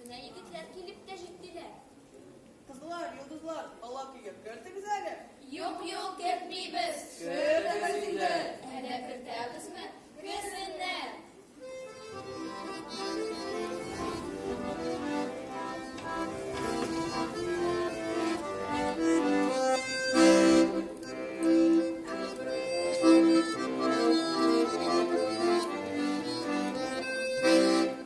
Менә егетләр килеп тә җиттеләр. Кызлар, йолдызлар, ала көйгә кертегез әле. Юк, юк, кертмибез. Кертегез инде. Әнә кертәбезме? Керсеннәр. Thank you.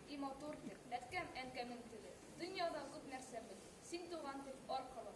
И матур тел, әткәм, әнкәмнең теле, Дөньяда күп нәрсә бел, син туган тел, аркылы.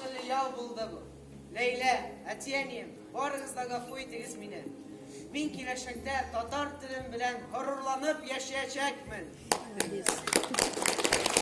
Кыллы ял булды бу. Ләйлә, әтиәнием, барыгыз да гафу итегез мине. Мин киләчәктә татар телем белән горурланып яшәячәкмен.